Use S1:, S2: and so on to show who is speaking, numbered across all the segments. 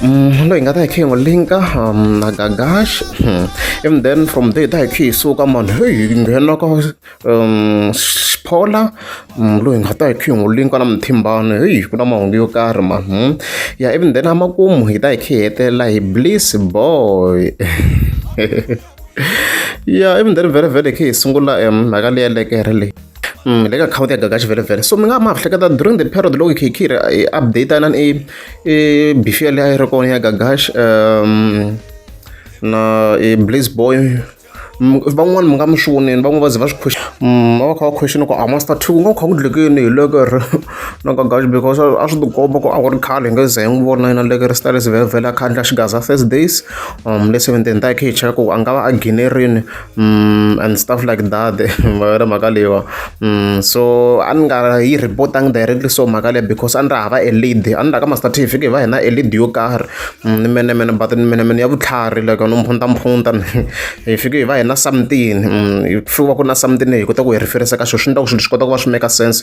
S1: loyi hi nga ta hi khe hi n'wi linka na gagash and then from there hi ta hi khe hi suka mani heyi hi nghena ka xiphola loyi hi nga ta hi khe hi n'wi linka na muthimbani heyi ku na mahungu yo karhi mani ya ivi then emakumu hi ta hi khe hi hetelela hi bliss boy ya i mindzhani vhelemvhele khe hi sungula um mhaka leyi ya lekere leyi um le ka akhawunti ya gagaxi vhelemvhele so mi nga ma hleketa during the period loko khe hi khe hi update na i i bifiya leyi a yi ri kona ya gagaxi um na i blaze boy van'wani mi nga mi swi voneni van'wani va ze va swi khwexi va va kha va khwexini ku a master two ku nga kha ku dlekeni hi lekere No ka guys because a swi tikomba ku a ku ri khale hi nge ze hi n'wi vona yena le kristale sivhevhela a khandla xigaza first days um le seventeni ta khe hi cheka ku a nga va a ginerini um and stuff like that ma yona mhaka leyiwa um so a ni nga yi reportangi directly so mhaka leyi because a ni ri hava e lead a ni ra ka master t fike hi va hina e lead yo karhi um ni menemene but ni menemene ya vutlhari like no mphunta mphunta hi fike hi va hina something um hi fiwa ku na something hi kota ku hi riferisa ka xo swi ni ta ku swilo swi kota ku va swi make sense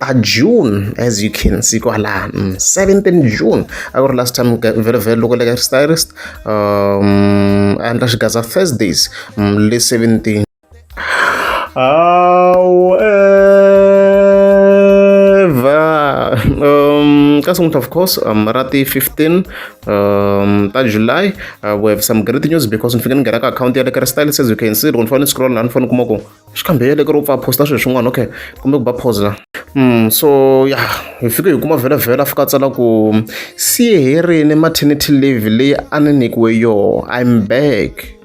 S1: a June as you can see kwala 17 mm, June a ku ri last time vele vele loko le ka stylist um a endla xigaza Thursdays mm, le 17 however um ka sunguta of course um ra ti 15 um ta July uh, we have some great news because ni fike ni nghena ka account ya le ka stylist as you can see loko ni fane ni scroll la ni fane ni kuma ku swi kambele ku ri u pfa posta swilo swin'wana okay kumbe ku ba pause la Mm, so ya yeah, hi fike hi kuma vhelavhela fika tsala ku si herini maternity leave leyi a ni nyikiwe yoho im back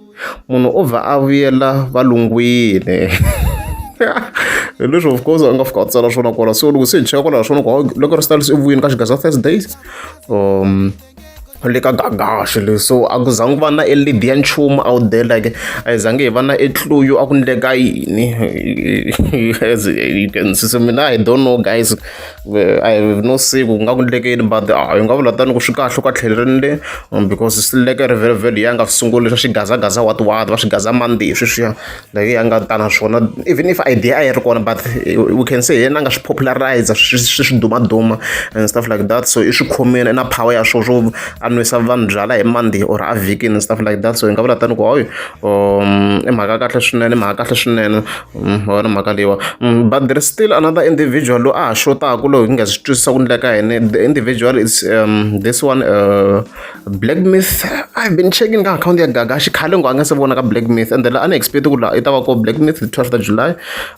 S1: munhu o vha a vuyela valungwini hi leswi of course a nga fika a tsala swona kwala so loko se hi cheka kwalaho swona ku loko ri stalisi evuyini ka xigaza thursdays um le ka gagaxo leyi so a ku zangi ku va na e lead ya nchumu out there like a hi zangi hi va na etluyu a ku ndleka yini as you can see so mina i don't know guys i have no say ku nga ku ndleke yini but a hi nga vula tani ku swi kahle ka tlheleleni le um, because swi leke ri vhele vhele ya nga sunguli swa xigazagaza watiwati va swi gaza mandi hi sweswiya leyi ya nga ta na swona even if idea a yi ri kona but we can say yena a nga swi popularize swi swi dumaduma and stuff like that so i swi khomile na power ya swo swo a nwisa vanhu byala hi monday or a vhikini and stuff like that so hi nga vula tani ku hoyo um, i mhaka kahle swinene mhaka kahle swinene mm, wona mhaka leyiwa mm, but there is still another individual loyi a ha xotaku loyi hi nga swi twisisa ku ndleka yini the individual is um, this one uh, Black Myth, I've been checking ka akhawunti ya Gaga xikhale ngo a nga se vona ka Black Myth ende la a ni expect ku la i ta va ko Black Myth hi 12 ta July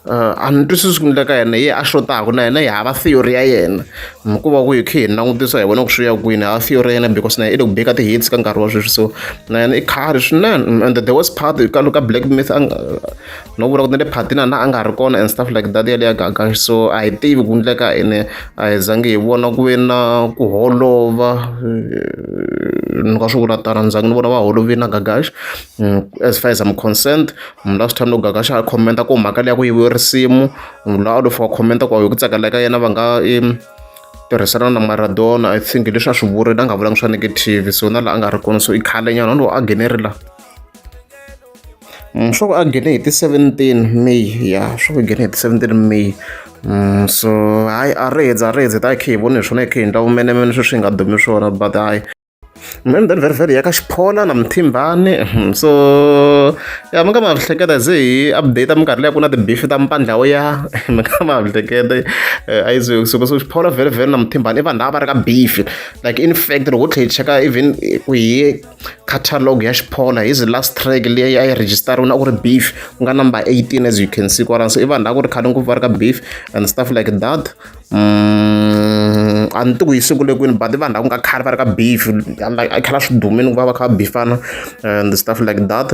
S1: uh, a ni twisisi ku ndleka yena ye a xotaku na yena yi hava theory ya yena hikuva ku hi khe hi langutisa hi vona ku swi ya kwini hava theory ya yena because na yena i le ku beka ti-hits ka nkarhi wa sweswi so na yena i khari swinene and the worst part ka ka Black Myth no vula ku na le phatina na a nga ri kona and stuff like that yaleya gaga so a hi tivi ku endleka ene a hi zangi hi vona ku ve na ku holova eh, ni ka swi vula tano ni zangi ni vona va holovi na gagash mm, as far as am concerned mm, last time loko gagash a commenta ku mhaka leya ku yiviwe risimu mm, la a lofa wa commenta ku hi ku tsakela ka yena va nga tirhisana na maradona i think leswi a swi vurile a nga vulanga swa negative so na laha a nga ri kona so i khale nyana lowu a nghenelela swa ku a nghene hi ti seventeen may ya swa ku nghene hi ti seventeen may so hayi a ri hezi a ri hezi hi ta hi khe hi vone hi swona hi khe hi endla vumenemene sweswi hi nga dumi swona but hayi mani then vhele vhele ya ka xiphola na muthimbani hmm, so ya mi nga ma hleketa ze hi update minkarhi leyi ku na tibifi ta mpandla wo ya mi nga ma hleketa eh, a yi ze kusuka so xiphola vhele vhele na muthimbani i vanhu lava va ri ka bifi like in fact loko u tlhe hi cheka even ku hi catalogue ya xiphola hi the last track leyi a yi register-iwe na ku ri beef ku nga number 18 as you can see kwalano so i vanhu lava ku ri khale ngopfu va ri ka beef and stuff like that mm, a ni tiku hi siku le kwini but i vanhu lava ku nga khale va ri ka beef i khala swi dumile ku va va kha va bifana and stuff like that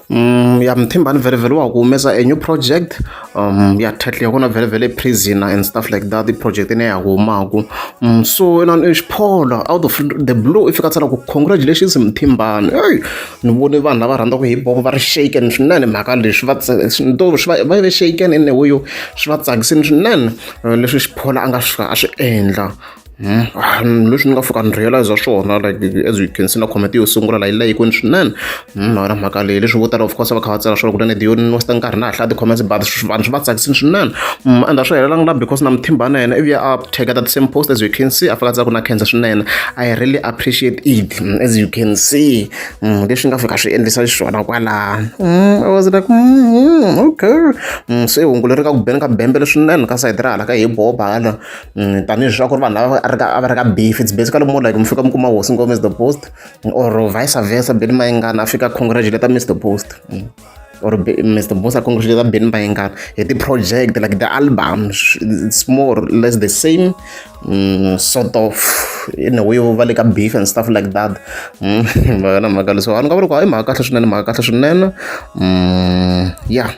S1: ya muthimbani vhele wa ha ku humesa a new project ya title ya kona vhele vhele prisoner and stuff like that i project leyi ya humaka so inana i xiphola out of the blue i fika tsala ku congratulations muthimbani eyi ni vone vanhu lava rhandzaka hip hop va ri shaken swinene mhaka leswi va to swi va va ve shaken ene huyo swi va tsakisini swinene leswi xiphola a nga swi a swi endla. Hmm, leswi ni nga fika ni realize swona like as you can see na comment yo sungula la yi layikweni swinene hmm, na wena mhaka leyi leswi vo tala of course va kha va tsala swona kutani diyo ni wasta nkarhi na ha hlaya ti-comments but vanhu swi va tsakisini swinene hmm, and a swi helelanga la because na mithimba na yena ivuya a tageta the same post as you can see a fika tsaku na cancer swinene i really appreciate it as you can see leswi nga fika swi endlisa xiswona kwalaa i was like okay se hungulo ri ka ku beni ka bembele swinene ka sayiti ra hala ka hi boba hala tanihi leswaku ri vanhu lava a ri ka a va ri ka beef it's basically more like mi fika mi kuma hosi ngome is the post or vice versa beni mayingana a fika congratulate mr post or mr post a congratulate beni mayingana hi ti-project like the albums it's more or less the same mm, sort of in a way va le ka beef and stuff like that vana mhaka leswi vanhu ka va ri ku hayi mhaka kahle swinene mhaka kahle swinene mm, yeah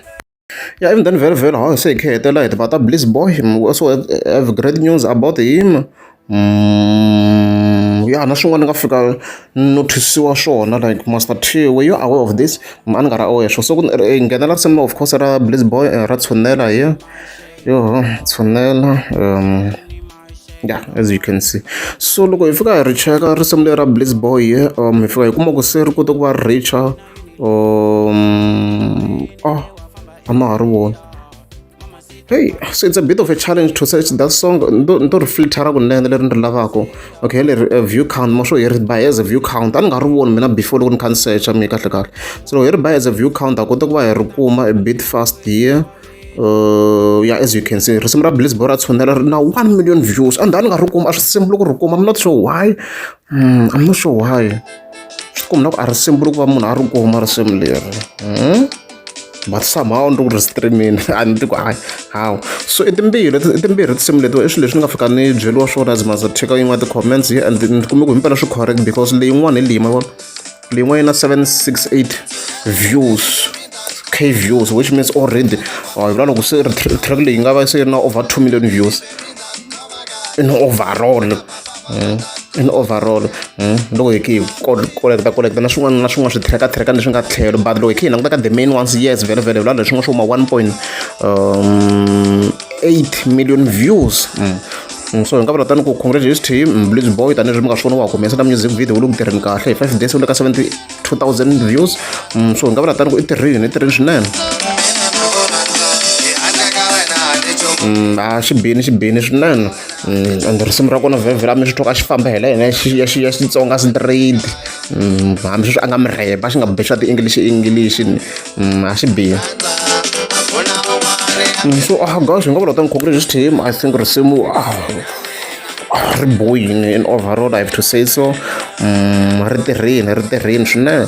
S1: Yeah, even then, very, very hard. Say, okay, tell it, but a bliss boy. We also have great news about him. Mm, yeah, na swin'wana ni nga fika nothisiwa swona like master t were you aware of this a ni nga ra aware swo so ku eh, nghenela risimu of course ra bliss boy eh, ra tshunela hi yo tshunela um yeah as you can see so loko hi fika hi ri cheka risimu leri ra bliss boy um hi fika hi kuma ku se ri kota ku va richa Um, oh, I'm not one. Hey, so it's a bit of a challenge to search that song. Ndo filter kunene leri ndri lavako. Okay, leri uh, view count mo sure ri by as a view count. Ani nga ri voni mina before loko ni kha ni search mi kahle kahle. So ri by as a view count a kota ku va hi ri kuma a bit fast here. Uh, yeah, as you can see, risimu ra Bliss Bora tshunela ri na 1 million views. And ani nga ri kuma a swi simple ku ri kuma. I'm not sure why. Mm, I'm not sure why. swikwembu na ku a ri simbuli ku va munhu a ri kuma risimu leri hmm? but somehow ndi ku ri streamini a ni ti ku hayi hawu so i timbirhi i timbirhi tinsimu letiwa i swilo leswi ni nga fika ni byeriwa swona as maza cheka yin'wana ti-comments ye and ni kume ku himpela swi correct because leyin'wana hi leyi ma vona leyin'wana yi na 768 views k views which means already hi vula loko se track leyi nga va se ri na over 2 million views in overall Hmm? in overall hmm? loko hi khe hi koleketa koleketa na swin'wana na swin'wana swithirekathireka leswi nga tlhelo but loko hi khe hi languta ka the main ones yes vele vele vula leswi nga swo ma one point um, eight million views hmm. Mm, so hi nga vula tani ku congratulations team mm, blitz boy tanihileswi mi nga swi vona wa humesa na music video wu le ku tirheni kahle hi five days wu le ka seventy 2000 views mm, so hi nga vula tani ku i tirhini i tirhini swinene mm, a xi bini xi bini swinene mm, and risimu ra kona vhevhela mi swi twa ka xi famba hi la hina ya xitsonga straight hambi sweswi a nga mi rheba xi nga bexa ti-english english a xi biha so ah gosh hi nga vula ta nkhongolexi team i think risimu ah ri boyini in overall i have to say so ri tirhile ri tirhile swinene.